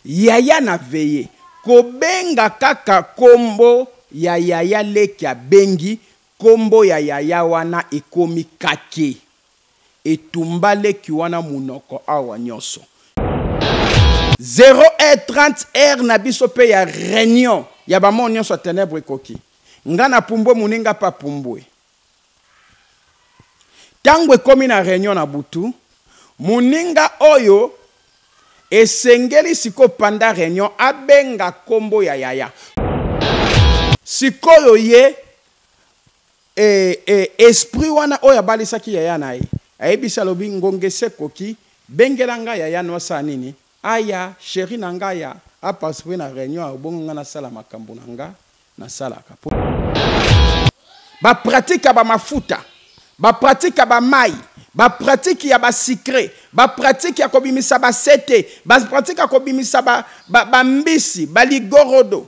Yaya na veye kobenga kaka kombo ya yaya leki abengi kombo ya yaya wana ekomi kake etumba leki wana munoko awa nionso. Zero heure 30 heure na biso pe ya reunion ya ba mort nionso ya tenèbres ekoki nga na pumbue muninga pe apumbue Tango ekomi na reunion na butu, muninga oyo esengeli sikoyo pendant reunion abenga kombo ya yaya. Sikoyo ye esprit wana oyo abalisaki yaya na ye, ayebisi alobi ngonga esi ekoki, bengela nga yaya no asala nini? Aya cherie na nga aya a participer na reunion ya bongo nga nasala makambu na nga nasalaka po ba pratique ya ba mafuta ba pratique ya ba mayi ba pratique ya ba sucre ba pratique ya kobimisa ba sete ba pratique ya kobimisa ba, ba, ba mbisi ba ligorodo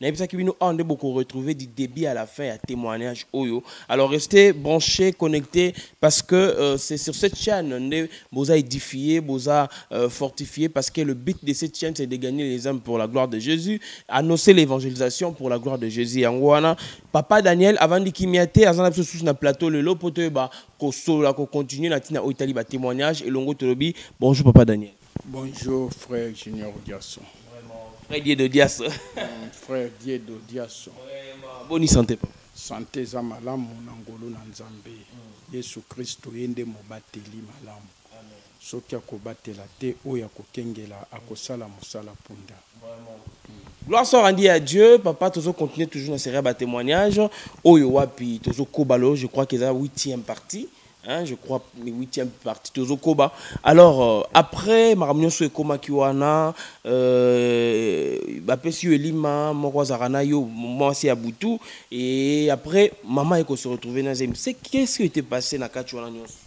Nayebisaki bino awa nde boko retrouver du début à la fin ya témoignage oyo. Alors restez branchés, connectés parce que euh, c'est sur cette chaîne nde boza édifié, boza euh, fortifié parce que le but de cette chaîne c'est de gagner les âmes pour la gloire de Jésus, annoncer l'évangélisation pour la gloire de Jésus. Yango wana papa Daniel avandi kimia te, azana biso sous na plateau lelo poto ba ko solo la ko continuer na tina oyo tali ba témoignages elongo tolobi. Bonjour papa Daniel. Bonjour frère Junior Diasso. Vraiment, frère Diedo Diasso. Mm, frère Diedo Diasso. Vraiment, boni santé papa. Santé eza malamu na ngolu na Nzambe. Mm. Yesu Kristo ye nde mobateli malamu. Amen. Soki akobatela te oyo akokengela akosala mosala punda. Vraiment. Mm. Gloire soit rendue à Dieu. Papa, tozo continuer toujours na série ba témoignages. Oyo wapi tozo kobalo, je crois que eza 8e partie. Hein, je crois le huitième partie tozo koba alors euh, après makambo nyonso ekomaki wana euh, bapesi yo elima moko azalaka na yo mwasi ya butu et après mama eko se retrouver na zemi c'est qu'est-ce qui était passé na kati wana nyonso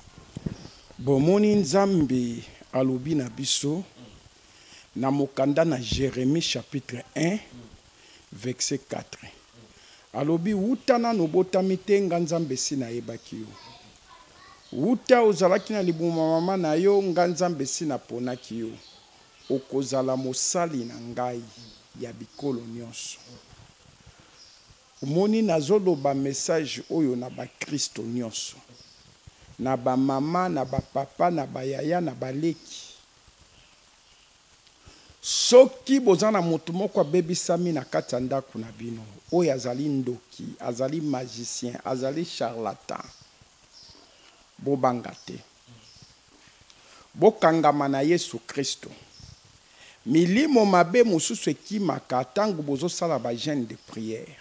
bomoni nzambe alobi na biso na mokanda na jérémie chapitre 1 Vexet 4. Alobi, Wuta nanu obotami te, nga Nzambe esi nayebaki yo. Wuta ozalaki na libumu ya mama na yo, nga Nzambe esi naponaki yo. Okozala mosali na ngai ya bikolo nionso. Omoni, nazoloba message oyo na bakristo nionso. Na ba mama, na ba papa, na ba yaya, na ba leki. Soki boza na moto moko abebisami na kati ya ndako na bino, oyo azali ndoki, azali magicien, azali charlatan, bobanga te. Bokangama na Yesu Kristo. Milimo mabe mosusu ekimaka tango bozosala ba jeune de prière.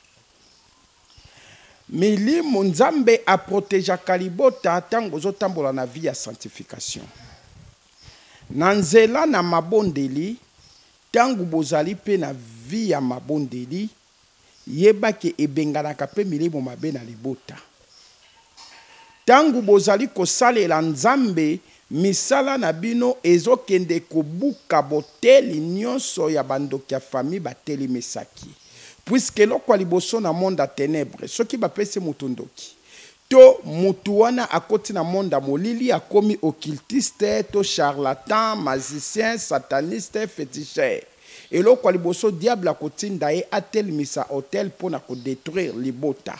Milimo, Nzambe a protegeaka libota tango bozotambola na vie ya sanctification. Na nzela na mabondeli, tangu bozali pe na vie ya mabondeli, yeba ke ebenganaka pe milimo mabe na libota. Tangu bozali kosalela Nzambe, misala na bino ezo kende kobuka boteli nionso ya ba ndoki ya famille batelemisaki. Puisque eloko ya liboso na monde ya tenèbres, soki bapesi mutu ndoki, To mutu wana akoti na monde ya molili akomi occultiste to charlatan, magicien, sataniste, feticheur. Eloko ya liboso diable akotinda ye atelmisa hotel pona ko detruire libota.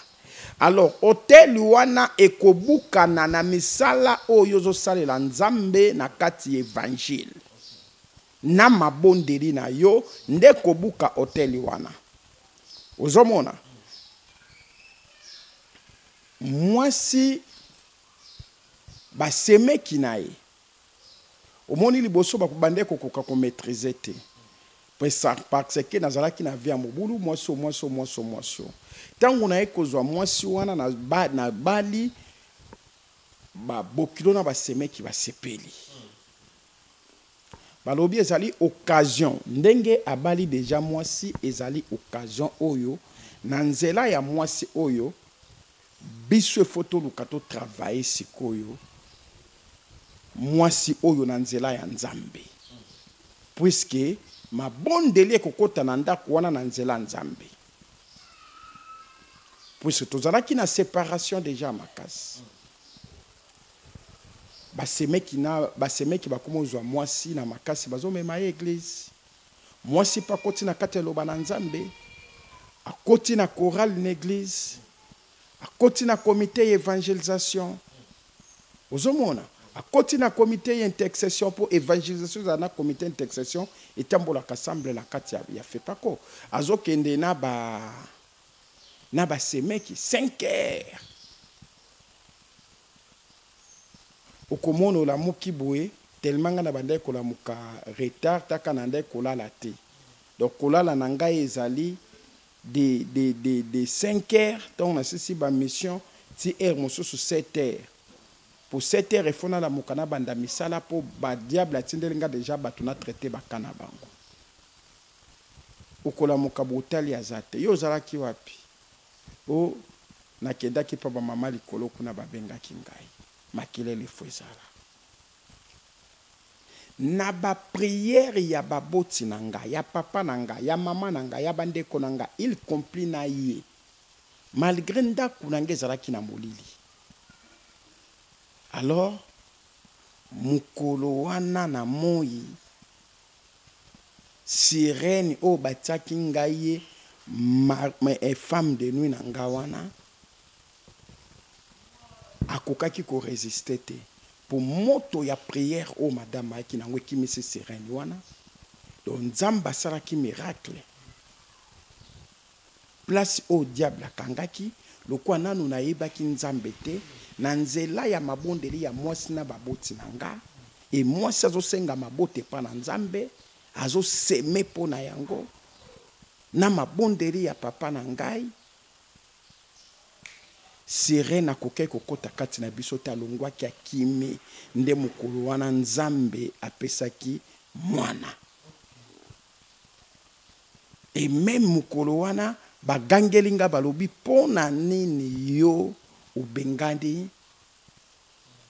Alors hotel wana ekobukana na misala oyo yo ozo salela Nzambe na kati ya evangile. Na mabondeli na yo nde ekobuka hotel wana. Ozo mona? mwasi basemeki na ye omoni liboso bakobandaki kokoka komaîtrise te parce que nazalaki na vie ya mobulu mwasi o mwasi o mwasi o mwasi o ntango naye kozwa mwasi wana na, ba, na bali babokilo na basemeki basepeli Balobi ezali occasion ndenge abali dejà mwasi ezali occasion oyo na nzela ya mwasi oyo biso il faut toluka to travailler sikoyo mwasi oyo na nzela ya Nzambe puisque mabondeli ekokota na ndako wana na nzela ya Nzambe puisque tozalaki na separation dejà makasi ba semeki na ba semeki bakoma ozwa mwasi na makasi bazomema ye eglise mwasi mpe akoti na kati ya loba na nzambe akoti na chorale na eglise akoti na comité ya evangelisation ozomona akoti na comité ya intercession mpo evangelisation ezala na comité ya intercession etambolaka semble na kati ya, ya fekako azokende na ba na ba semeki cinq heures okomona olamuki boye tellement nga nabandaki kolamuka retard taka nandaki kolala te donc kolala na ngai ezali de, de, de, de 5 heures ntango nasisi ba mission ti heure mosusu 7 heures po 7 heures efo nalamuka nabanda misala po ba diable atindeli nga deja bato na traite baka na bango Okolamuka botali aza te yo ozalaki wapi oh na kedaki pa ba mama likolo kuna ba bengaki ngai makelele faut ezala na ba prière ya ba boti na nga ya papa na nga ya mama na nga ya ba ndeko na nga il compli na ye malgre ndaku na nga ezalaki na molili alors mukolo wana na moyi Sirene oyo batiaki ngai ye femme de nuit na nga wana akokaki ko resister te mpo moto ya prière oyo madame ayaki na yango ekimisi sirene wana donc nzambe asalaki miracle Place oyo diable akangaki, lokola nanu nayebaki Nzambe te, na nzela ya mabondeli ya mwasi na baboti na nga, et mwasi azo senga mabota epa na Nzambe, azo semer po na yango, na mabondeli ya papa na ngai, sirene akokaki kokota kati na biso te, alongwaki akimi, nde mokolo wana Nzambe apesaki mwana. Et meme mukolo wana ba gangeli nga balobi pona nini yo obengani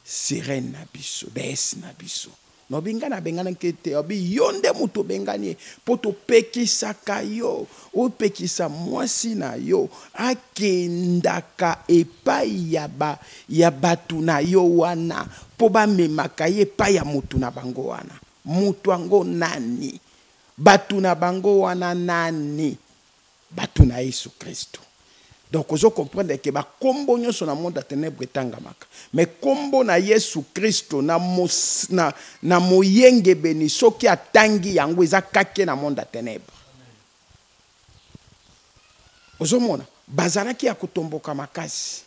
sirène na biso deesse na biso nalobi nga nabengana nke te obi yo nde moto obengani ye mpo topekisaka yo opekisa mwasi na yo akendaka epai ya, ba, ya bato na yo wana mpo bamemaka ye epai ya moto na bango wana moto yango nani Bato na bango wana nani? Bato na Yesu Kristu. Donc ozo comprendre que ba kombo nionso na monde ya tenèbres etangamaka mais kombo na Yesu Kristo na, na, na moyengebeni soki atangi yango eza kake na monde ya tenèbres. Ozomona bazalaki ya kotomboka makasi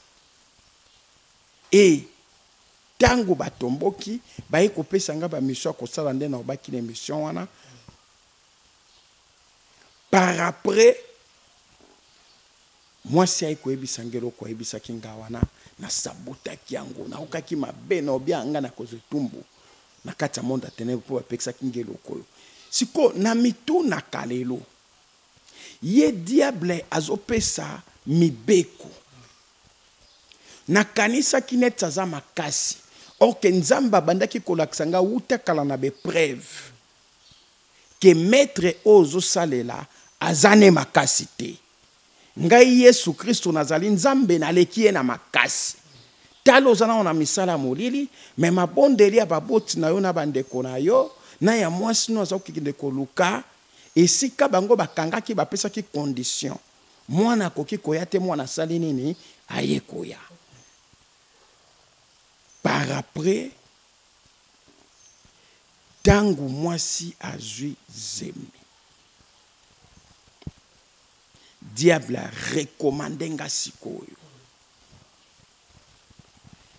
e Tango ba tomboki baye ko pesa nga ba mission ya kosala nde na obaki na emission wana par après mwasi aye koyebisa nga eloko ayebisaki nga wana na sabotaki yango naokaki mabe na obia nga na kozwa etumbu na kati ya monde ya tenebre mpo bapekisaki nga eloko oyo sikoyo na mitunaka lelo ye diable azopesa mibeko Nakanisaki neti aza makasi or que Nzambe abandaki kolakisa nga wuta kala na be preuves que maitre oyo ozo salela aza ne makasi te. Ngai Yesu Kristo nazali Nzambe naleki ye na makasi. Tala oza nano na misala ya molili mais mabondeli ya baboti na yo na ba ndeko na yo na ya mwasi no aza kokende koluka esika bango bakangaki bapesaki conditions. mwana akoki koya te mwana asali nini aye koya par après ntango mwasi azwi zemi diable arekomande nga sikoyo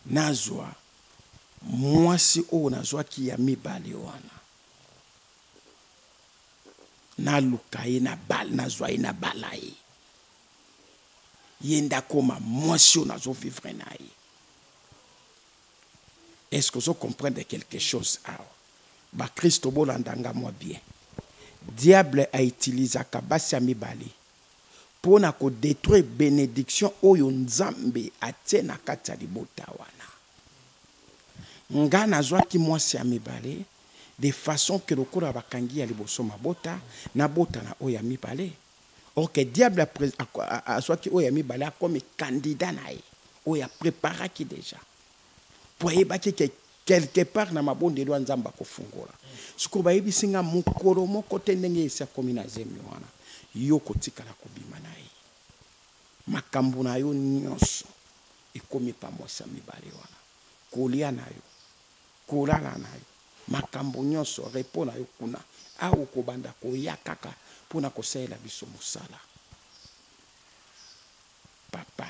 nazwa mwasi oyo nazwaki ya mibale wana naluka ye na bal nazwa ye na bala ye ye nde akoma mwasi oyo nazovivre na ye est ce que ozo comprendre quelque chose awa bakristo bolanda nga mwa bien diable autilisaka basi ya mibale mpo na kodetruire benediction oyo nzambe atie na kati ya libota wana nga nazwaki mwasi ya mibale de façon que lokola bakangi ya liboso mabota, nabota na oyo ya mibale. Or que diable a pres, a, a, azwaki oyo ya mibale akomi candidat na ye, oyo a preparaki dejà. Mpo ayebaki que quelque part na mabondeli wana Nzambe akofungola. Sikoyo bayebisi nga mokolo moko te ndenge esi akomi na zemi wana, yo okotikala kobima na ye. Makambo na yo nionso ekomi pamwasa mibale wana. Kolia na yo, Kolala na yo, makambo nyonso, repos na yo kuna. Awa okobanda koya kaka mpo na kosalela biso mosala, Papa.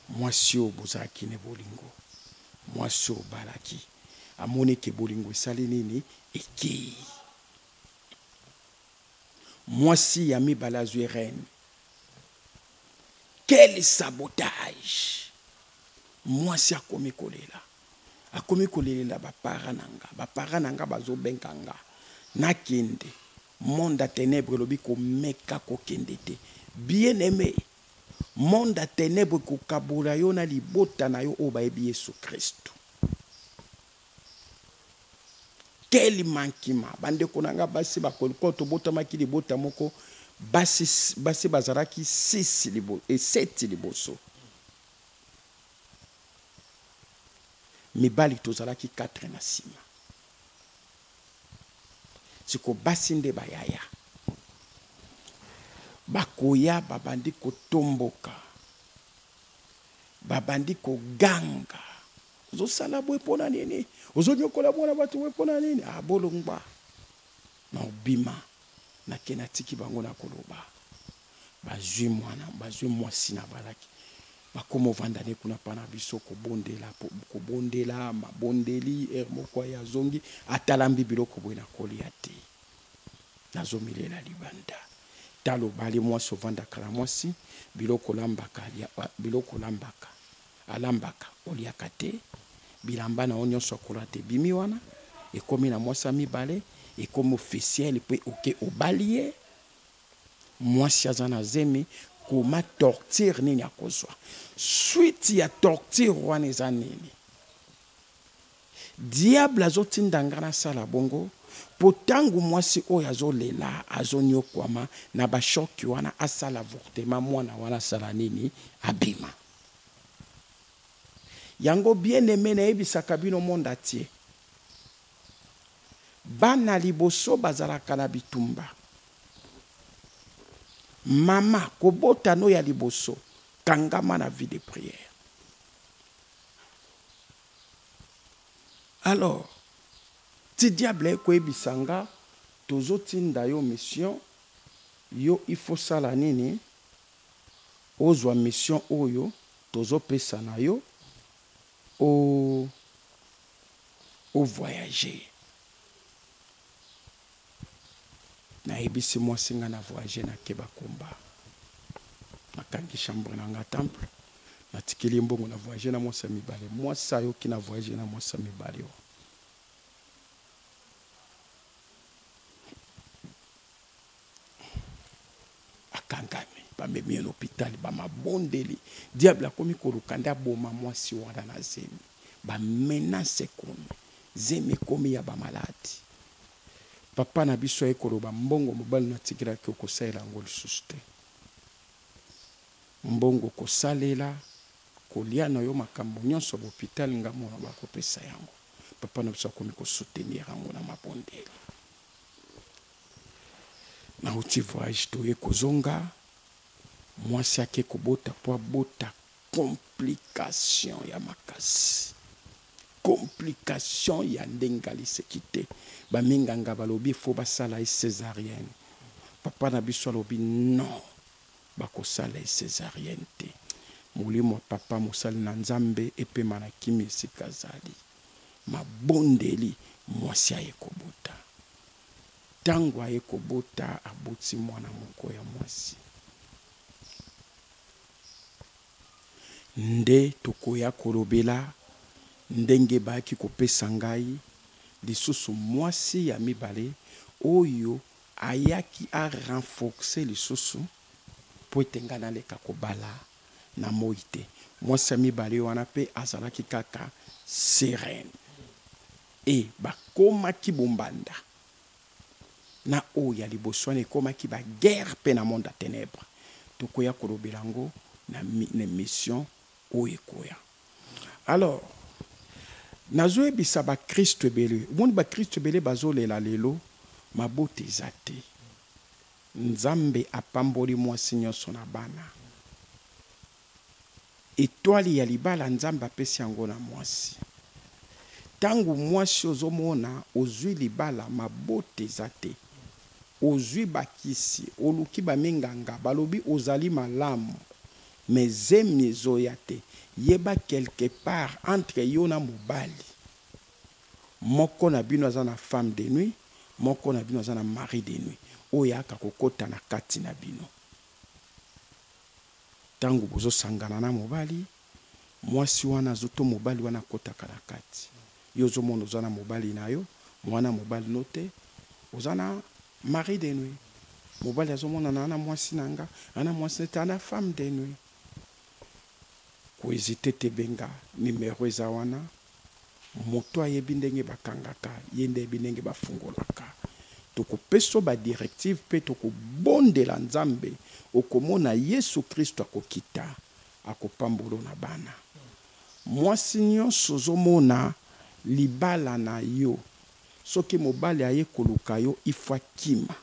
Mwasi oyo bozalaki ne bolingo, mwasi oyo obalaki, amoni ete bolingo esali nini? Ekei. Mwasi ya mibale azwi règne. Quel sabotage! mwasi akomi kolela akomi kolelela bapara na nga bapara na nga bazobenga nga nakende monde ya tenebre elobi komeka kokende te bien aime monde ya tenebre kokabola yo na libota na yo oyo bayebi yesu kristu quel mankima bandeko na nga basi bakolikoyo tobotamaki libota moko basi, basi bazalaki 6 libo, 7 eh, liboso mibali tozalaki 4 na sima siko basi nde bayaya bakoya babandi kotomboka babandi koganga ozosala boye mpo na nini ozonyokola mwana bato boye mpo na nini abolongwa ah, na obima nake natiki bango na koloba bazwi mwana bazwi mwasi na balaki bakoma ovanda ne kuna mpa na biso kobondela kobondela mabondeli ere moko aye azongi atalambi biloko boye na kolia te nazomilela libanda talo bale mwasi ovandaka na mwasi biloko olambaka biloko olambaka alambaka oliaka te bilamba na yo nyonso akola te bimi wana ekomi na mwasi ya mibale ekomi officiel mpe oke obali ye Mwasi aza na zemi koma torture nini akozwa suite ya torture wana eza nini diable azotinda ngai nasala bongo mpo ntango mwasi oyo azolela azonyokwama na bashoki wana asala avortema mwana wana asala nini abima yango bien aime nayebisaka bino monde atie Bana liboso bazalaka na bitumba. Mama kobota no ya liboso kangama na vie de prière. Alors ti diable ekoyebisa nga tozotinda yo mission yo il faut sala nini ozwa mission oyo tozopesa na yo. o o voyage nayebisi mwasi nga na voyage na keba kumba nakangi chambre na nga temple natikeli ye mbongo na voyage na mwasi ya mibale mwasi ayoki na voyage na mwasi ya mibale o akangami bamemi ye lopitali bamabondeli diable akomi koluka nde aboma mwasi wana na zemi bamenase ekomi zemi ekomi ya bamaladi papa na biso aye koloba mbongo mobali na atikelaki okosalela yango lisusu te mbongo kosalela kolia na yo makambo nyonso ya lopitali nga mona bakopesa yango papa na biso akomi kosoutenir yango na mabondeli Nauti voyage toye kozonga mwasi ake kobota po abota complication ya makasi complication ya ndenge aliseki te ba minganga balobi faut basala ye cesarienne papa na biso alobi non bakosala ye cesarienne te molimo ya papa mosali na nzambe epema na kimi esika azali mabondeli mwasi aye kobota Tango aye kobota, aboti mwana moko ya mwasi. Nde tokoya kolobela ndenge bayaki kopesa ngai lisusu mwasi ya mibale oyo ayaki a renforcer lisusu po ete ngai naleka kobala na moyi te. Mwasi ya mibale wana pe azalaki kaka Sirène. Et bakomaki bombanda na oyo ya liboso wana ekomaki ba guerre pe na monde ya tenebre tokoya kolobela yango na emission oyo ekoya alors nazoyebisa ba christu ebele omoni ba christu ebele bazolela lelo mabota eza te nzambe apamboli mwasi nionso na bana. Etoile ya libala nzambe apesi yango na muasi tangu muasi ozo mona ozui libala mabota eza te ozui ba kisi oluki ba minganga balobi ozali malamu mais zemi ezoya te yeba quelque part entre yo na mobali moko na bino aza na femme de nuit moko na bino aza na mari de nuit oyo aka kokota na kati na bino. tangu bozo sangana na mobali muasi wana azo to mobali wana akotaka na kati yo ozo mona oza na mobali na yo muana mobali no te oza na mari de nuit mobali azo mona na na muasi na nga na muasi na te na femme de nuit ko hesiter te benga numero eza wana mutu ayebi ndenge bakangaka ye nde ayebi ndenge bafungolaka tokopeso ba directive pe tokobondela nzambe okomona yesu christu akokita akopambolo na bana mwasi nionso ozomona libala nayo soki mobali aye kolukayo il faut akima.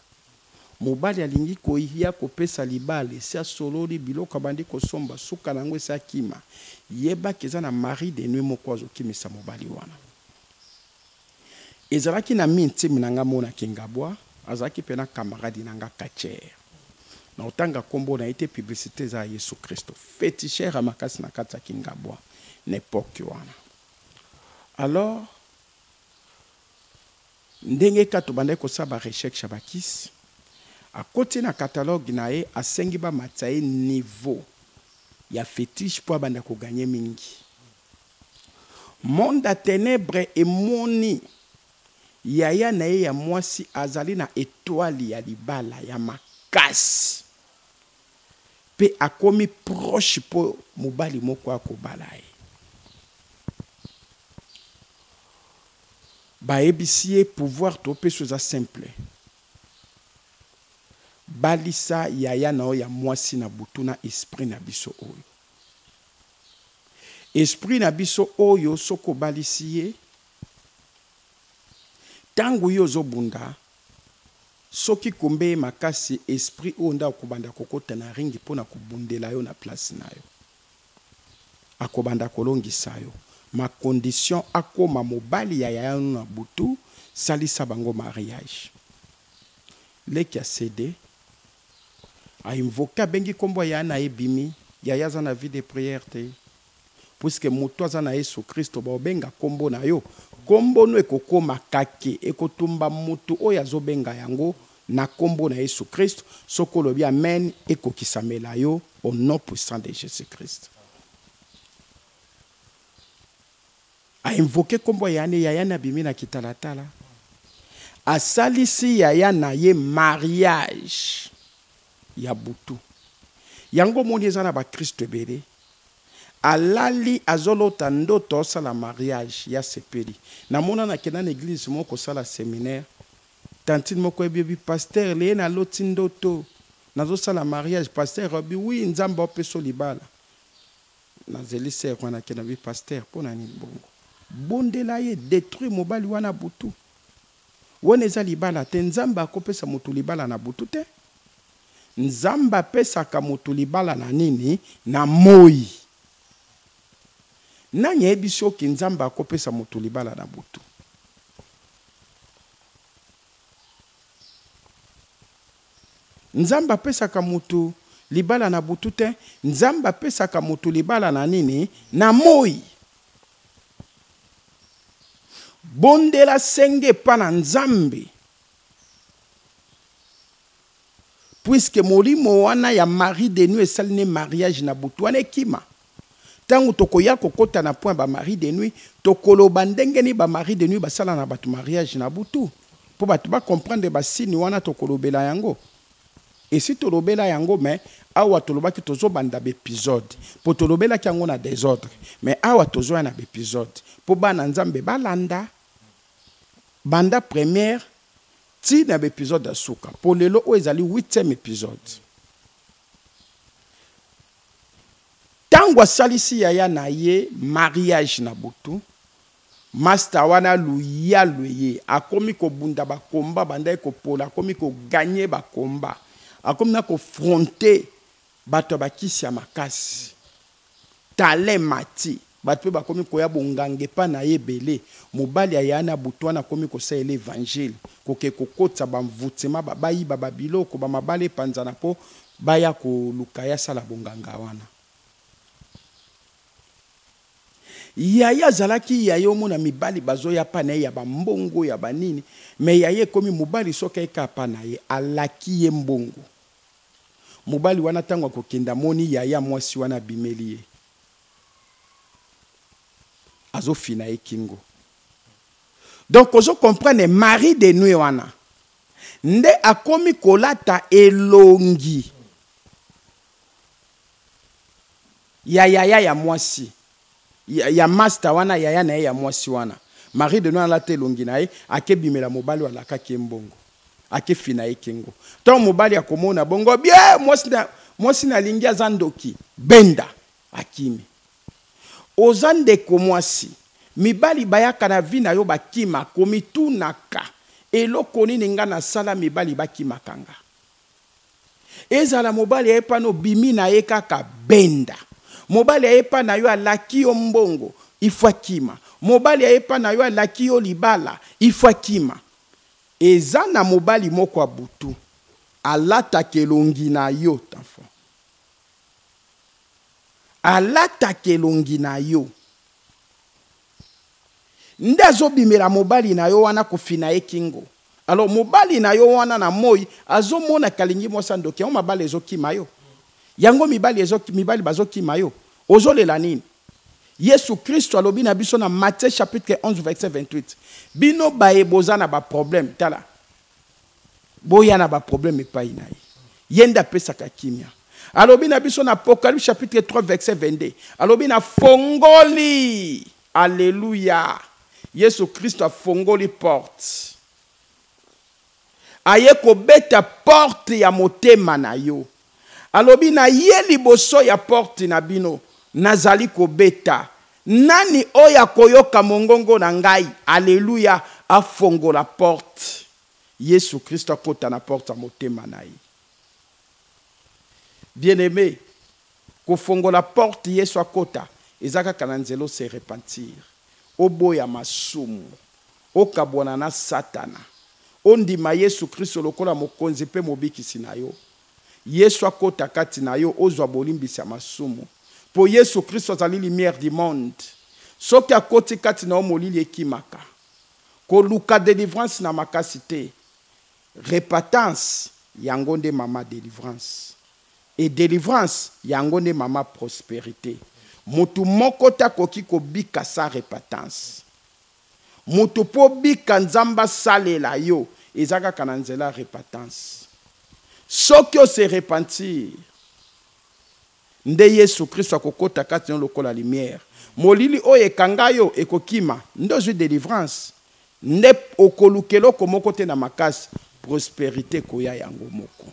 Mobali alingi koyia kopesa libala esi asololi biloko abandi kosomba suka na yango esi akima yeba ke eza na mari de nuit moko azo kimisa mobali wana ezalaki na mi ntime na nga mona kingabwa azalaki pe na camarade na nga catcher na otanga kombo na ye te publicite eza ya yesu christo feticheur ya makasi na kati ya kingabwa na epoque wana alors Ndenge kaka tobandaki kosala ba recherches ya ba kisi, akoti na catalogue na ye, asengi bamatisa ye niveau ya fetiche mpo abanda ko gagner mingi. Monde ya tenèbres emoni yaya na ye ya mwasi azali na etoile ya libala ya makasi mpe akomi proche mpo mobali moko akobala ye. Bayebisi ye pouvoir to pesi yo eza simple balisa yaya na yo ya mwasi na butu na esprit na biso oyo. Esprit na biso oyo soki obalisi ye tangu yo ozo bunda soki kumbe ye makasi esprit oyo nde akobanda kokota na ringi pona kobundela yo na place na yo. akobanda kolongisa yo ma condition akoma mobali ya yaya no na butu salisa bango mariage leki a cede a invoque abengi kombo ya yaya na ye ebimi yaya aza na vie de prière te puisque mutu aza na yesu kristo baobenga kombo na yo kombo no ekokoma kake ekotumba mutu oyo azobenga yango Na kombo na yesu christ soki olobi amen ekokisamela yo au nom puissant de jesus christ. A invoquer kombo ya yane ya yane abimi na kitalatala asalisi yaya na ye mariage ya butu yango omoni eza na ba christo ebele alali azolota ndoto asala mariage ya sepeli namona nakenda na eglise moko kosala seminaire Tantine moko oyebi oyebi pasteur lee na loti ndoto nazo sala mariage pasteur alobi oui nzambe ao pesa yo libala na zeli sœur wana akende alobi pasteur pona nini bongo bondela ye detruire mobali wana butu wana eza libala te nzambe ako pesa mutu libala na butu te nzambe apesaka mutu libala na nini na moyi nani ayebisi yo ki nzambe ako pesa mutu libala na butu Nzambe apesaka mutu libala na butu te, Nzambe apesaka mutu libala na nini? Na moyi. Bondela senga epa na Nzambe. puisque molimo wana ya mari de nuit esali ne mariage na butu wana ekima ntango tokoya kokota na point ba mari de nuit tokoloba ndenge nini ba mari de nuit basala na bato mariage na butu mpo bato bacomprendre basini wana tokolobela yango esi tolobela yango me awa tolobaki tozobanda baepisode mpo tolobelaki yango na desordre me awa tozoya na baepisode mpo bana nzambe balanda banda première Ti na ba episode ya suka po lelo oyo ezali huitième episode. Tango asalisi yaya na ye mariage na butu, masta wana luyalu eye akomi kobunda ba combat abandaki kopola akomi ko gagner ba combat akomi na ko fronter Bato ya bakisi ya makasi. Tala emati. Bato mpe bakomi koya bonganga epai na ye ebele. Mobali aya na butu wana akomi kosalela Evangile, kokei kokotisa banvutema, bayiba babiloko, bamabala epanzana mpo baya koluka ye asala bonganga wana. Yaya azalaki yaya omona mibali bazoya epai na ye ya bambongo, ya banini, mais yaya ekomi mobali soki aye kaka epai na ye, alaki ye mbongo. Mobali wana tango akokende amoni yaya mwasi wana abimeli ye. Azo fina ye kingo. Donc ozo comprendre Marie de nuit wana nde akomi kolata elongi ya yaya ya mwasi. ya, ya masta wana yaya na ye ya mwasi wana Marie de Noa alata elongi na ye akebimela mobali alakaki ye mbongo akefina ye kingo ntango mobali akomona bongo bie mwasi na, mwasi nalingi aza ndoki benda akimi oza ndeko mwasi mibali bayaka na vi na yo bakima komitunaka eloko nini nga nasala mibali bakimaka nga Ezala mobali aye epa no obimi na ye kaka benda. Mobali aye epa na yo alaki yo mbongo il faut akima. Mobali aye epa na yo alaki yo libala il faut akima. Eza na mobali moko ya butu alataka elongi na yo tanfon. Alataka elongi na yo. nde azobimela mobali na yo wana kofina ye kingo alors mobali na yo wana na moi azomona kalingi mwasi ya ndoki yango mabala ezokima yo yango mibali, ezo, mibali bazokima yo ozolela nini yesu kristo alobi na biso na matthieu chapitre 11 verset 28 bino baye boza na baproblème tala boya na ba problème epai na ye ye nde apesaka kimia alobi na biso na apocalypse chapitre 3 verset 22 alobi na fongoli aleluya yesu kristo afongoli porte aye kobeta porte ya motema na yo Alobi, Na ye liboso ya porte na bino, nazali kobeta. Nani oyo akoyoka mongongo na ngai, aleluya, afongola porte, Yesu Kristo akota na porte ya motema na ye. Bien-aime, kofongola porte Yesu akota, eza kaka na nzela o se repentir, oboya masumu, Okabwana na Satana. Ondima Yesu Kristo lokola Mokonzi mpe Mobikisi na yo. Yesu akota kati na yo, ozwa bolimbisi ya masumu. Mpo Yesu Kristo azali lumière du monde. Soki akoti kati na yo, molili ekimaka. Koluka delivrance na makasi te. Repatance, yango nde mama delivrance. Et delivrance, yango nde mama prosperite. Moto moko te akoki kobika sans repatance. Mutu po obika nzambe asalela yo eza kaka na nzela ya repentance. Soki o se repentir nde yesu christo akokota kati na yo lokola lumière. Molili oyo ekanga yo ekokima nde ozui delivrance nde okoluka eloko moko te na makasi prosperite ekoya yango moko.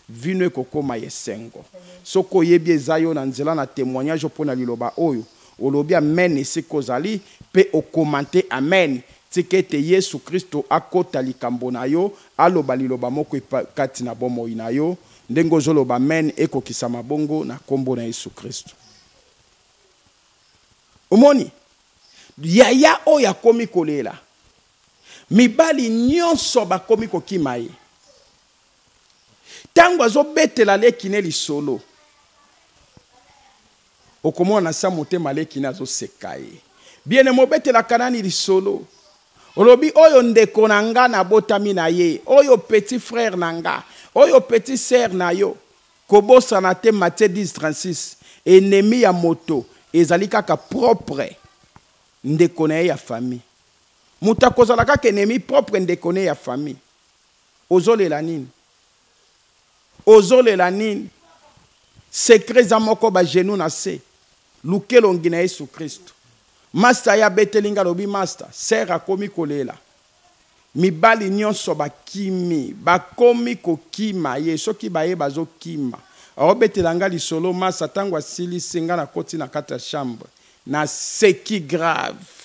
Vino ekokoma ya esengo soki oyebi eza yo na nzela na temoignage opona liloba oyo Olobi amen esika ozali pe o commente amen. Tika ete Yesu Kristo akota likambo na yo, aloba liloba moko kati na bomoi na yo. Ndenge ozo loba amen ekokisama bongo na kombo na Yesu Kristo. Omoni? Yaya oyo akomi kolela. Mibali nyonso bakomi kokima ye. Tango azo betela leki ne lisolo. Okomona na sa motema leki na azo seka ye bien aime obetelaka nani lisolo olobi oyo ndeko na nga na botami na ye oyo petit frère na nga oyo petit sœur na yo kobosana te Matthieu 10 36 enemi ya moto ezali kaka propre ndeko na ye ya famille moto akozala kaka enemi propre ndeko ne ya famille ozolela nini Ozolela nini? Secret eza moko ba genoux na se. Luka elongi na Yesu Kristu. Masta ye abeteli nga alobi masta sœur akomi kolela. Mibali nionso bakimi. Bakomi kokima ye. Soki baye bazo kima. Aobetela nga lisolo masta tango asilisi nga nakoti na kati ya chambre. Naseki grave.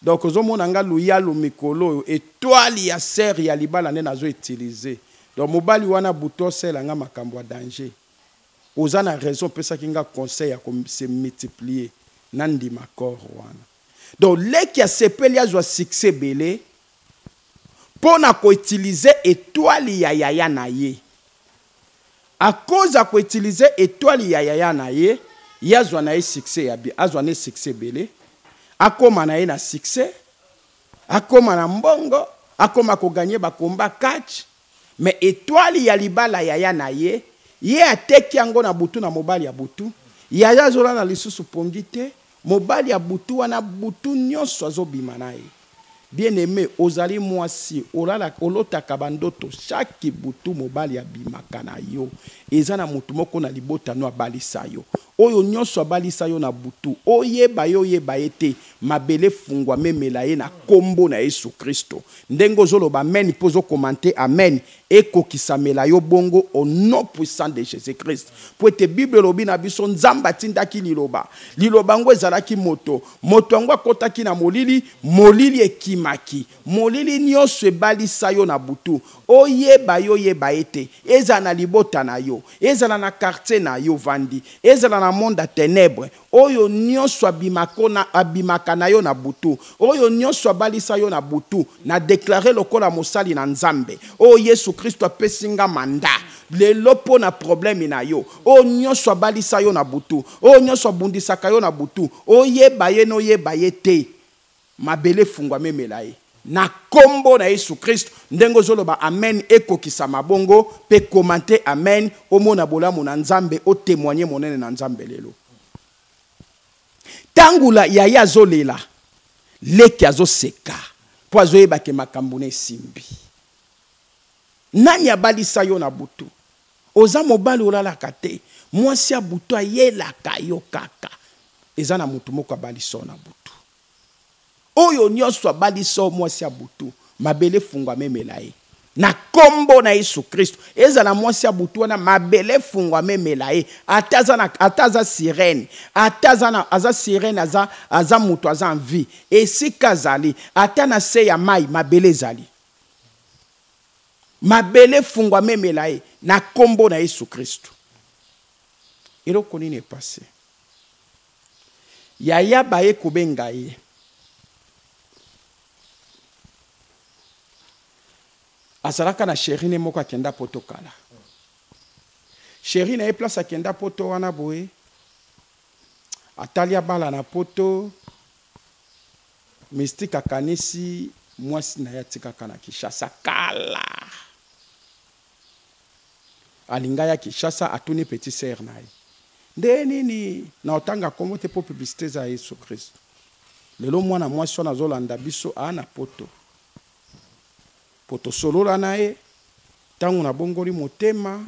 donc ozo mona nga luyalu mikolo oyo etoile ya sœur ya libala nde nazo utilise donc mobali wana butu osela nga makambo ya danger oza na raison opesaki nga conseil ya ko se multiplier na ndima corps wana donc leki asepeli azwa succès ebele mpo na ko utilise etoile ya yaya na ye A cause ya ko utiliser etoile ya yaya na ye, ye azwa na ye succès ya bien, azwa ne succès ebele, akoma na ye na succès, akoma na mbongo, akoma ko gagner ba combats catch, mais etoile ya libala ya yaya na ye, ye ateki yango na butu na mobali ya butu, yaya azolala lisusu pongi te, Mobali ya butu wana butu nionso azo bima naye bien aime ozali mwasi olalaka olotaka ba ndoto chaque butu mobali abimaka na yo eza na mutu moko na libota no abalisa yo oyo nionso abalisa yo na butu oyeba ye oyeba ye te mabele efungwa memela ye na kombo na yesu christo ndenge ozo loba amen pe ozo commente amen Ekokisamela yo bongo au nom puissant de Jesus Christ. Mpo ete Bible elobi na biso Nzambe atindaki Liloba. Liloba yango ezalaki moto. Moto yango akotaki na molili, molili ekimaki. Molili nionso ebalisa yo na butu. Oyeba yo oyeba ye te. Ezala na libota na yo, ezala na quartier na yo ovandi, ezala na monde ya tenèbres, Oyo nionso abimako na abimaka na yo na butu, oyo nionso abalisa yo na butu, na declarer lokola mosali na Nzambe oyo Yesu Kristo apesi nga mandat lelo mpo na probleme na yo. Oyo nionso abalisa yo na butu, oyo nionso abundisaka yo na butu, oyeba ye n'oyeba ye te, Mabele efungwama emela ye na kombo na yesu christ ndenge ozoloba amen ekokisama bongo pe commente amen omona bolamu na nzambe o temoigne monene na nzambe lelo tangu la yaya azolela leki azoseka po azoyeba ke makambu na esimbi nani abalisa yo na butu Oza mobali olalaka te mwasi ya butu ayelaka yo kaka eza na mutu moko abali so na butu oyo nionso abali so mwasi ya butu mabele fungwa memela ye na kombo na Yesu Kristo ezala mwasi ya butu wana mabele fungwa memela ye ata aza na ata aza sirene ata aza na aza sirene aza aza mutu aza en vie esika azali ata na se ya mai mabele ezali Mabele efungwama emela ye na kombo na Yesu Kristu. Eloko nini epase? Yaya baye kobenga ye. Azalaka na sheri ne moko akenda poto kala. Sheri na ye place akenda poto wana boye. Atali abala na poto. Mystique akanisi mwasi na ye atikaka na Kinshasa kala. Alinga ya Kinshasa atuni petit sœur na ye. Nde nini na otanga kombo te po publicité eza ya Yesu Christ. Lelo mwana mwasi wana azolanda biso a na poto. Po tosolola na ye tango na bongoli motema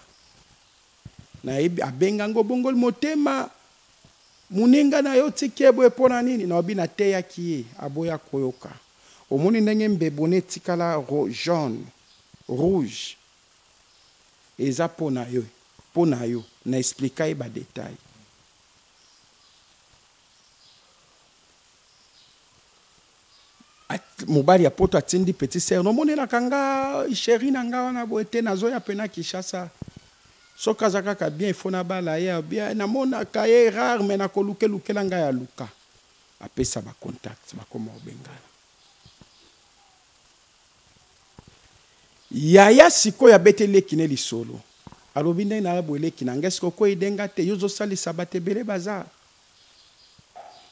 nayebi abenga ngo bongoli motema moninga na yo tikie boye mpo na nini naobi nateyaki ye aboya koyoka omoni ndenge mbebu na etikala jaune rouge eza mpo na yo mpo na yo na explika ye badetail mobali ya poto atindi petit sœur nomonelaka nga chéri na nga wana boye te nazoya mpe na kinshasa soki aza kaka bien ifo nabala ye bien namonaka ye rare me nakoluke lukela ngai aluka apesa bacontact bakoma obengana yaya sikoyo abeti eleki ne lisolo alobi ndenge naya boeleki na ngai soki okwei denga te yo ozosalisa bato ebele baza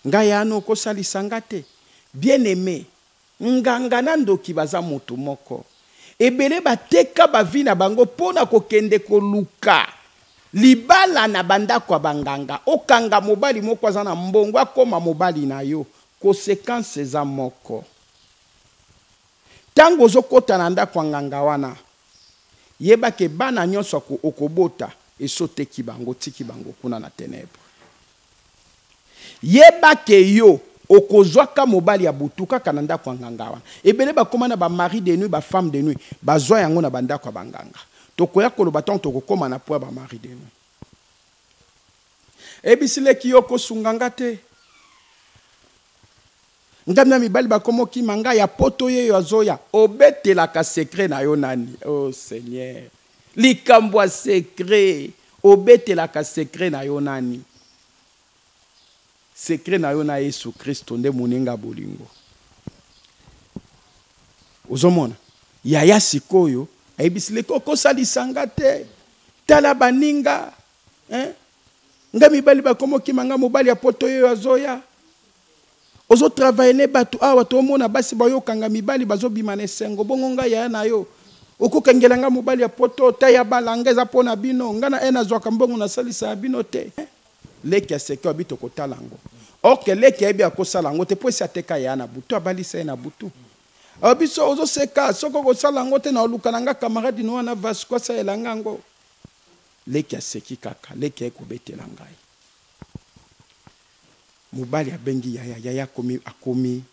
Ngai ano okosalisa nga te? Bien aime nganga na ndoki baza mutu moko ebele ba teka ba vie na bango pona ko kende ko luka libala na ba ndaku ya ba nganga okanga mobali moko aza na mbongo akoma mobali na yo consequence eza moko. Tango ozo kota na ndako ya nganga wana yeba ke bana nionso oko bota esi oteki bango otiki bango kuna na tenèbres. Yeba ke yo oko zwa ka mobali ya butu kaka na ndako ya nganga wana. Ebele ba koma na ba maris de nuit, ba femmes de nuit ba zwa yango na ba ndako ya ba nganga. Toko ya ko loba tango toko koma na point ya ba maris de nuit. Ebisi leki yo oko sunga nga te. Nzambe ya mibali bakomo kima nga ya poto yeyo azoya obetelaka secret na yo nani oh seigneur likambo ya secret obetelaka secret na yo nani secret na yo na Yesu Kristo nde moninga bolingo ozomona yaya sikoyo ayebisi leki okosalisa nga te tala baninga eh? nga mibali bakomokima nga mobali ya poto yeyo azoya ozotravaille ne bato awa tomona basi bayokanga mibali bazobima na esengo bongo ngai yaya na yo okokangela ngai mobali ya poto ta ya balanga eza mpo na bino ngai na ene azwaka mbongo nasalisa ya bino te leki ya seke abi tokotala yango orke leki ayebi akosala yango te mpo esi ateka yaya na butu abalisa ye na butu ah, biso ozoseka soki okosala yango te na oluka na ngai kamaradi noa na vasco asalela ngai yango Leki aseki kaka. Leki aye kobetela ngai. Mobali abengi yaya. Yaya akomi, akomi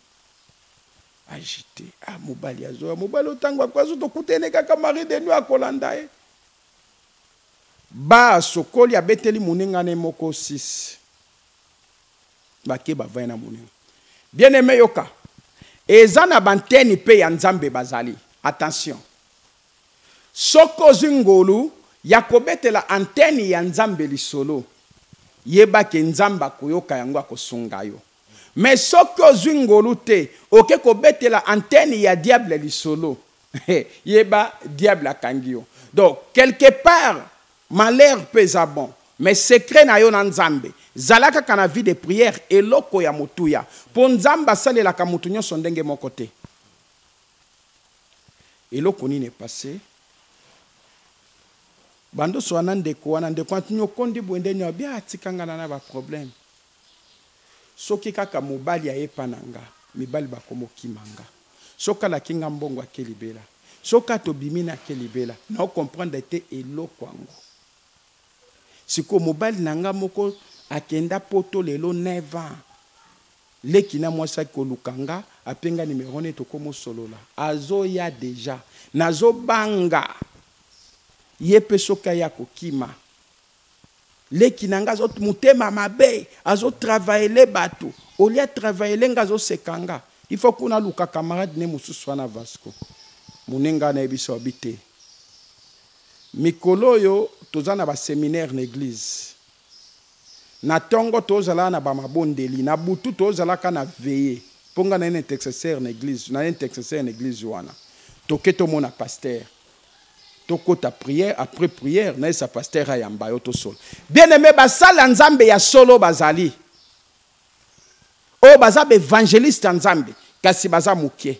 agite. Ah mobali azoya. Mobali oyo tango akoya soki tokuta ye nde kaka mari de nuit akolanda ye. Ba sokoli abeteli moninga ne moko six. Bake bavandi na moninga. Bien aime yoka. Eza na b'antenne pe ya Nzambe bazali. Attention. Soki ozwi ngolu ya kobetela antenne ya Nzambe lisolo, yeba que Nzambe akoyoka yango, akosunga yo. Mais soki ozwi ngolu te, oke kobetela antenne ya diable lisolo, yeba diable akangi yo. Donc, quelque part, malheur pe eza bon. Mais secret na yo na Nzambe, zala kaka na vie de prière, eloko ya motuya. Po Nzambe asalelaka mutu nionso ndenge moko te. eloko nini epase bandoso wana ndeko wana ndeko wana nyokondi boye nde nyo abia atikangana na baproblème soki kaka mobali ayepa na nga mibali bakomokima nga soki alaki nga mbongo ake libela soki atobimi na ake libela nao comprendre te eloko yango Sikoyo mobali na nga moko akenda poto lelo 9 ans. Leki na mwasi ake koluka nga, ape nga numero ne tokomo solola. Azoya deja. Nazo banga. Ye pe soki aya ako kima. Leki na nga azo mutema mabe, azo travailler batu. Au lieu a travailler nga azo seka nga. Il faut kuna aluka camarade ne mosusu wana Vasco. Mune nga na yebisa yo abi te. Mikolo oyo toza na ba seminaire na eglise na tongo tozala na ba mabondeli na butu tozala ka na veye po nga na intexeser na eglise na intexeser na eglise wana toke tomona pasteur tokota prière après prière na esa pasteur ayamba yo tosolo bien aime ba sali ya nzambe ya solo bazali oyo baza ba evangeliste ya nzambe kasi baza mukie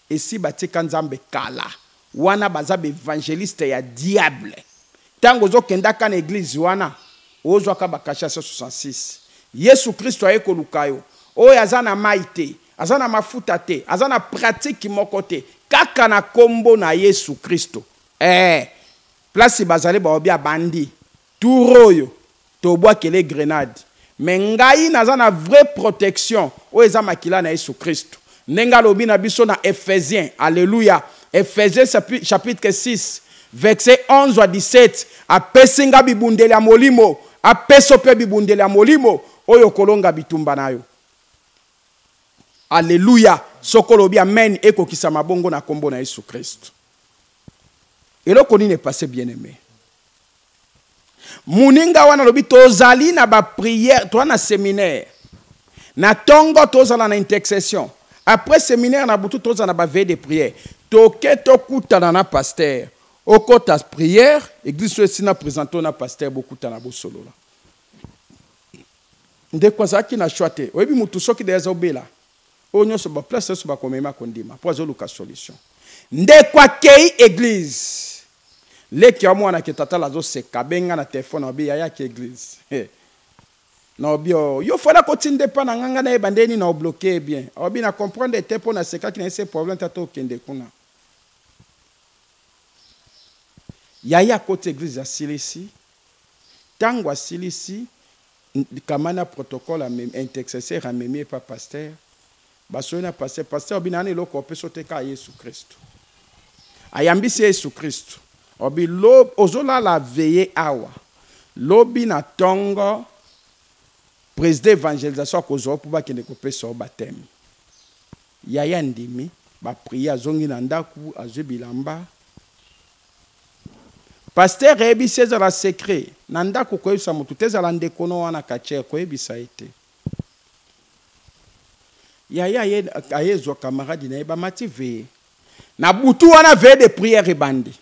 Esi batika nzambe kala. Wana baza ba evangelistes ya diable. Tango ozo kenda ka na eglise wana ozwa ka ba cachet ya 166. Yesu Christo aye koluka yo. Oyo aza na mayi te, aza na mafuta te, aza na pratique moko te, kaka na kombo na Yesu Christo. Ee, place bazali baobi abandi Tour oyo tobwakele grenade mais ngai naza na vrai protection oyo eza makila na yesu christu ndenge alobi na biso na ephesien alleluia ephesien chapitre 6 verse 11 à 17 apesi nga bibundeli ya molimo apeso pe bibundeli ya molimo oyo kolonga bitumba na yo alleluia soko olobi amen ekokisa mabongo na kombo na yesu christu eloko nini epase bien aime muninga wana alobi tozali na ba prière toza na seminaire na tongo tozala na intercession après seminaire na butu tozala na ba veille de prière toke tokutana na pasteur okota prière eglise oyo esina presente na pasteur bokutana bosolola ndeko azalaki na choix te oyebi mutu soki deja azobela Oyo nionso ba place nionso bako mema ako ndima po azo luka solution. Ndeko akeyi eglise leki ya mwana ke tata la azo seka abengi nga na telephone alobi yaya ake eglise he nalobi oh yo fallait ako tinda epa na nga nga nayeba nde nini nao bloque ye bien alobi na comprendre te po na sekaki na ye se problème te ata okende kuna yaya akoti eglise asilisi Tango asilisi, kama na protocole amemi, intercesseur amemi epa pasteur, basoyi na pasteur, pasteur alobi nana eloko opesa yo te kaka Yesu Kristu. Ayambisi Yesu Kristu, alobi lobi, ozolala veille awa, lobi na tongo president evangelisation akozua yo po bakende kopesa yo bapteme. Yaya andimi, ba prier, azongi na ndaku, azui bilamba, Pasteur eyebisi ezala secret na ndaku koyebisa mutu te ezala ndeko no wana catcheur koyebisa ye te yaya aye aye zwa camarade na ye bamati veye na butu wana veye de prière ebandi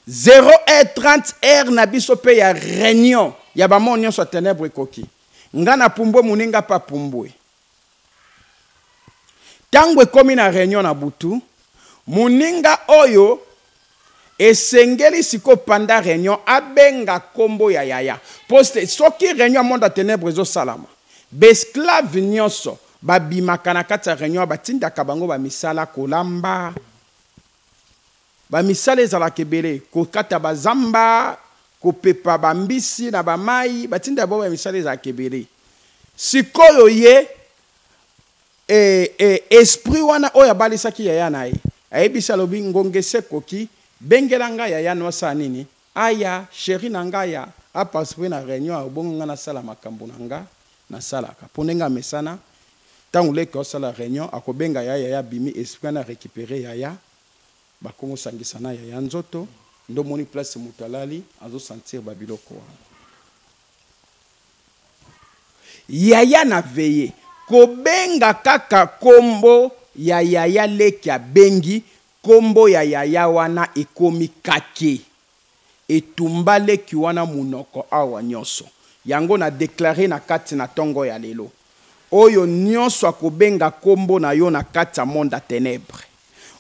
0 heure 30 heure na biso pe ya reunion ya bamor nyonso ya tenebre ekoki nga na pumbwe muninga pe apumbwe ntango ekomi na reunion na butu moninga oyo esengeli siko panda reunion abenga kombo ya yaya po soki reunion ya monde ya tenebre ezosalama besclave nyonso babimaka na kati ya reunion batindaka bango bamisala kolamba Ba misala ezalaka ebele, ko kata ba zamba, ko pepa ba mbisi na ba mayi, ba tinda ba misala ezalaka ebele. Sikoyo ye eh eh esprit wana oyo abalisaki yaya na ye, ayebisi alobi ngonga esi ekoki, bengela nga yaya no asala nini? Aya cherie na nga aya a participer na reunion ya obongo nga na sala makambu na nga na salaka. Po ndenge amesana, tangu leki asala reunion, ako benga yaya, yaya abimi, esprit wana a recuperer yaya, Ba kongo sangisa na yaya nzoto nde omoni place mutu alali azo sentir ba biloko wana. Yaya na veye kobenga kaka kombo ya yaya leki abengi kombo ya yaya wana ekomi kake. Etumba leki wana munoko awa nionso yango na declare na kati na tongo ya lelo oyo nionso akobenga kombo na yo na kati ya monde ya tenebre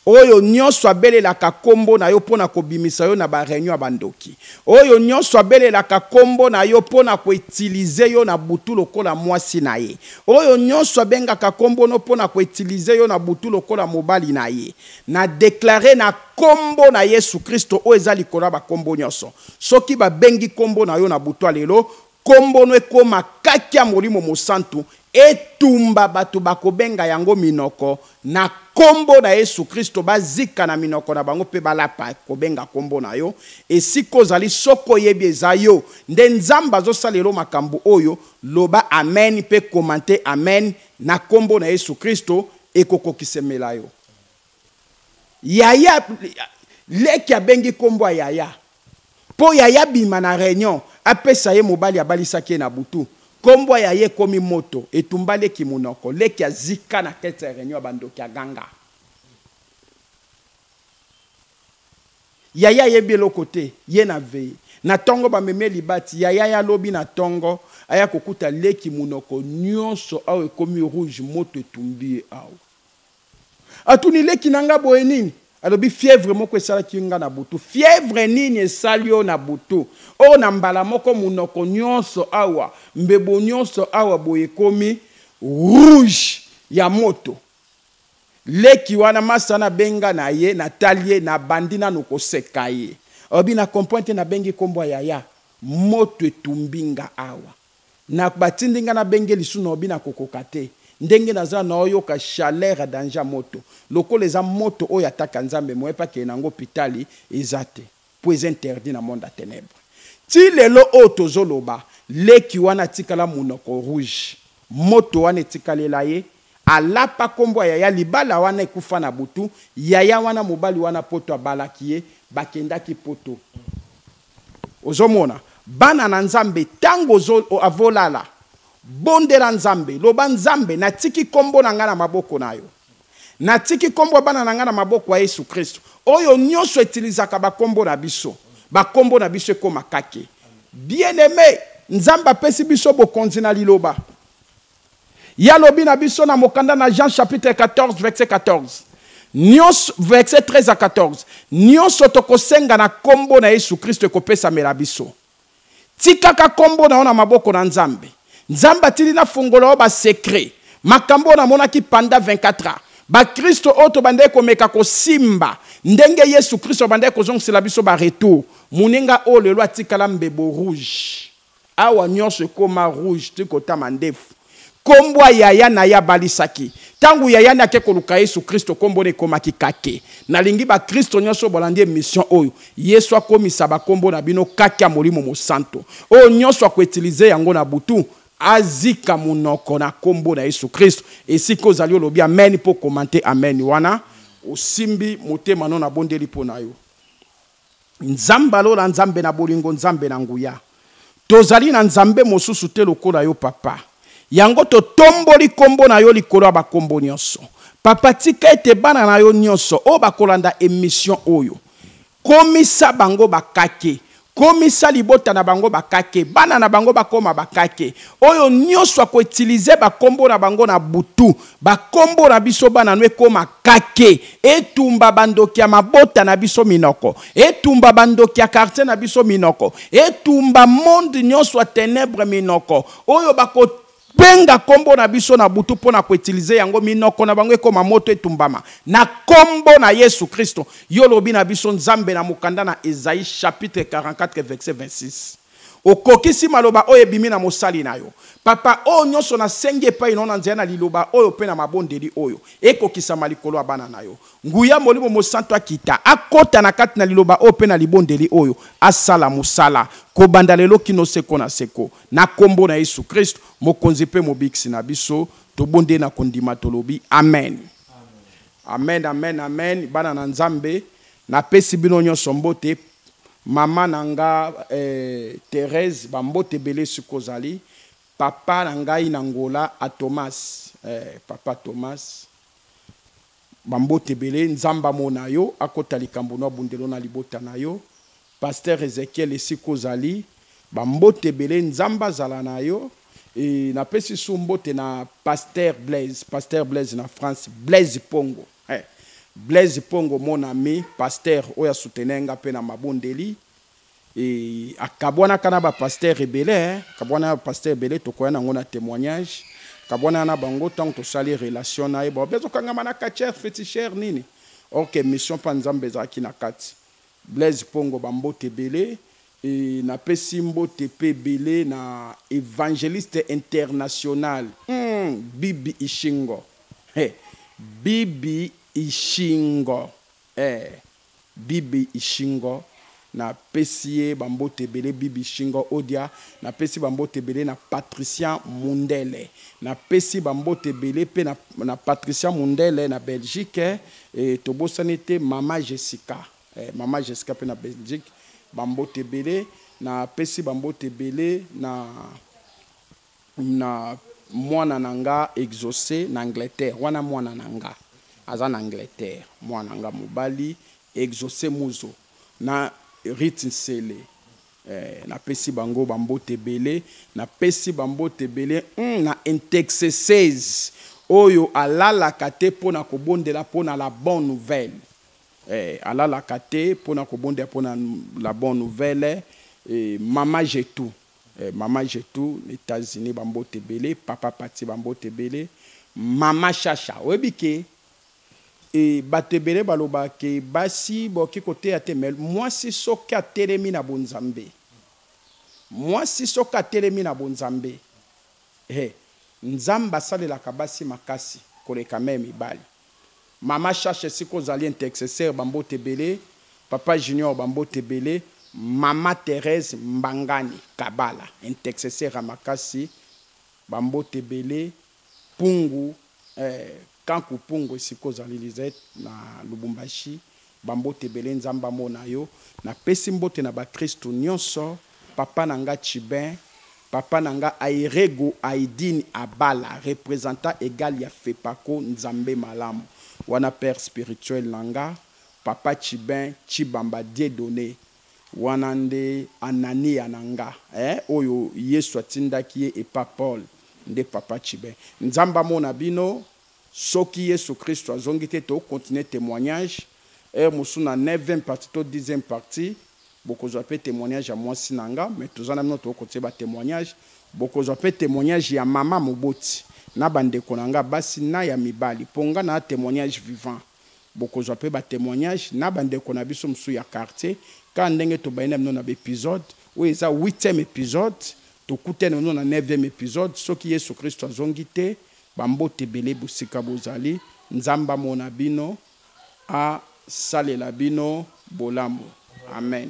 oyo nionso abelelaka kombo na yo pona kobimisa yo na ba reunion ya ba ndoki oyo nionso abelelaka kombo na yo pona ko utiliser yo na butu lokola muasi na ye oyo nionso abengaka kombo no pona ko utiliser yo na butu lokola mobali na ye Na declarer na kombo na yesu christo oyo eza likolo ya ba kombo nioso soki ba bengi kombo na yo na butua lelo kombo no ekoma kaki ya molimo mosantu etumba batu bako benga yango minoko na kombo na yesu christo ba zika na minoko na bango pe ba lapa ko benga kombo na yo esika ozali soki oyebi eza yo nde nzambe azo sala lelo makambu oyo loba amen pe commente amen na kombo na yesu christo ekokokisemela yo yaya leki abengi nkombo ya yaya mpo yaya abima na reunion apesa ye mobali abalisaki ye na butu nkombo ya yaya ekomi moto etumba leki monoko leki azika na kete ya reunion ya bandoki aganga Yaya ayebi eloko te ye na veye na tongo ba meme libati yaya ya lobi na tongo aya kokuta leki munoko nionso awa ekomi rouge moto etumbi ye awa atuni leki na nga boye nini alobi fièvre moko esalaki nga na butu fièvre nini esali yo na butu oyo na mbala moko munoko nionso awa mbebo nionso awa boye ekomi rouge ya moto. Leki wana masta na benga na ye na tali ye na bandi nanu ko seka ye olobi na comprend te na bengi kombo ya yaya moto etumbi nga awa na ba tindi nga na benge lisu na olobi na ko koka te ndenge na za na oyoka chaleur ya danger ya moto lokola eza moto oyo ataka nzambe moye pe akende na ngo hopitali eza te. po eza interdit na monde ya tenèbres ti lelo oyo tozo loba leki wana atikala munoko rouge moto wana etikalela ye alapa kombo ya yaya libala wana ekufa na butu yaya wana mobali wana poto abalaki ye bakendaki poto ozo mona bana na nzambe tango ozo avo lala bondela nzambe loba nzambe natiki kombo na nga na maboko nayo. Natiki kombo ya bana na ngai na maboko ya Yesu Kristu. Oyo nionso etilizaka ba kombo na biso, ba kombo na biso ekoma kake. Bien aime, Nzambe apesi biso bokonzi na liloba. Ye alobi na biso na mokanda na Jean chapitre 14 verset 14, nionso, verset 13 à 14, nionso tokosenga na kombo na Yesu Kristu ekopesamela biso. Tikaka kombo na yo na maboko na Nzambe. Nzambe atindi na fungola yo ba secrets. Makambo oyo namonaki pendant 24 ans. Ba kristo oyo tobandaki komeka kosimba ndenge Yesu Kristo abandaki kozongisela biso ba retours. Muninga oyo lelo atikala mbebo rouge. Awa nionso ekoma rouge, tiko ta mandefu. Kombo ya yaya na ye abalisaki. Tango yaya ne ake koluka Yesu Kristo, kombo ne ekomaki Kake. Nalingi bakristo nyonso oyo balandi emission oyo, Yesu akomisa bakombo na bino kake ya Molimo Mosanto. Oyo nyonso ako utiliser yango na butu, azika monoko na kombo na Yesu Kristo. Esika ozali olobi amen mpe o commenter amen wana osimbi motema no. Nabondeli mpo na yo. Nzambe ya lola, Nzambe na bolingo, Nzambe na nguya, tozali na Nzambe mosusu te lokola yo, Papa. Yango totomboli nkombo na yo likolo ya bankombo nyonso. Papa, tika ete bana na yo nyonso oyo bakolanda emission oyo, komisa bango bakake komisa libota na bango bakake, bana na bango bakoma bakake. Oyo nyonso akoutilize bakombo na bango na butu, Ba kombo na biso bana no ekoma kake. Etumba ba ndoki ya mabota na biso minoko. Etumba ba ndoki ya quartier na biso minoko. Etumba monde nionso ya tenèbres minoko. Oyo ba ko benga kombo na biso na butu po na ko utiliser yango minoko na bango ekoma moto etumbama na kombo na Yesu Kristo. Yo olobi na biso Nzambe na mokanda na Esaïe chapitre 44 verset 26. Okokisi maloba oyo ebimi na mosali na yo. Papa, oyo nyonso nasengi epai na yo na nzela na Liloba oyo mpe na mabondeli oyo, ekokisama likolo ya bana na yo. Nguya ya Molimo Mosanto akita, akota na kati na Liloba oyo mpe na libondeli oyo, asala mosala, kobanda lelo kino Seko na Seko. Na Nkombo na Yesu Kristo, Mokonzi mpe Mobikisi na biso, tobondeli na kondima, tolobi, Amen. Amen amen amen bana na nzambe na pesi bino nyonso mbote mama na nga eh, Therese bambote ebele siko ozali papa na ngai na ngola a Thomas eh, papa Thomas bambote ebele nzambe amona yo akota likambo no abundelo na libota na yo Pasteur Ezechiel esika ozali ba mbote ebele nzambe azala na yo et na pesi sous mbote na pasteur Blaise pasteur Blaise na France Blaise pongo eh Blaise pongo mon ami pasteur oyo a soutenir nga pe na mabondeli et akabuanaka na ba pasteur ebele hein akabuana na ba pasteur ebele tokoya na ngo na temoignage akabuana na bango tango tosali relation na ye ba bezo kangama na catcheur feticheur nini or que mission pa nzambe ezalaki na kati Blaise Pongo ba mbote ebele et na pesi mbote pe ebele na evangeliste international hum Bibi Ishingo he Bibi Ishingo eh Bibi Ishingo na pesi ye ba mbote ebele Bibi Ishingo Odia na pesi ba mbote ebele na Patricia Mundele na pesi ba mbote ebele pe na Patricia Mundele na Belgique eh Et tobosani te mama Jessica eh, mama Jessica pe na Belgique ba mbote ebele na pesi ba mbote ebele na na mwana na nga exauce na Angleterre wana mwana na nga aza na Angleterre mwana nga mobali exauce muzo na Rit Nsele Eeh na pesi bango ba mbote ebele na pesi ba mbote ebele hum na intexeses oyo alalaka te pona ko bondela pona la bon nouvelle eeh alalaka te pona ko bondela pona la bon nouvelle eeh mama Getou eeh mama Getou na etats unis ba mbote ebele papa Paty ba mbote ebele mama Shasha oyebi ke Yy batu ebele baloba ke basi boki koteya te me muasi soki atelemi na bonzambe muasi soki atelemi na bonzambe he nzambe asalelaka basi makasi koleka meme mibali mama shasha esika ozali intexeser ba mbote ebele papa junior ba mbote ebele mama Therèse mbangani kabala intexeser ya makasi ba mbote ebele Pungu eh, Kanku Pungu esika ozali Lisette na Lubumbashi ba mbote ebele Nzambe amona yo na pesi mbote na ba christu nionso papa na nga Chibin papa na nga Airego Aidine Abala representant egal ya Fepaco Nzambe malamu wana père spirituel na nga papa Chibin Tshibamba Dieudonne Wana nde Anania na nga eh, oyo Yesu atindaki ye epa Paul nde papa tshibe. Nzambe amona bino, soki Yesu Kristu azongi te to continuer temoignage heure mosusu na neuvième partie to dixième partie bokozwa pe temoignage ya mwasi na nga mais toza na bino toko continuer ba temoignage, bokozwa pe temoignage ya mama moboti na ba ndeko na nga basi na ya mibali po nga naa temoignage vivant. Bokozwa pe ba temoignages na ba ndeko na biso mosusu ya quartier kaka ndenge tobandi na bino na ba episodes. Oyo eza huitième episode, tokutani na bino na neuvième episode soki Yesu Kristu azongi te. Ba mbote ebele bosika bozali. Nzambe amona bino, asalela bino bolamu. Amen.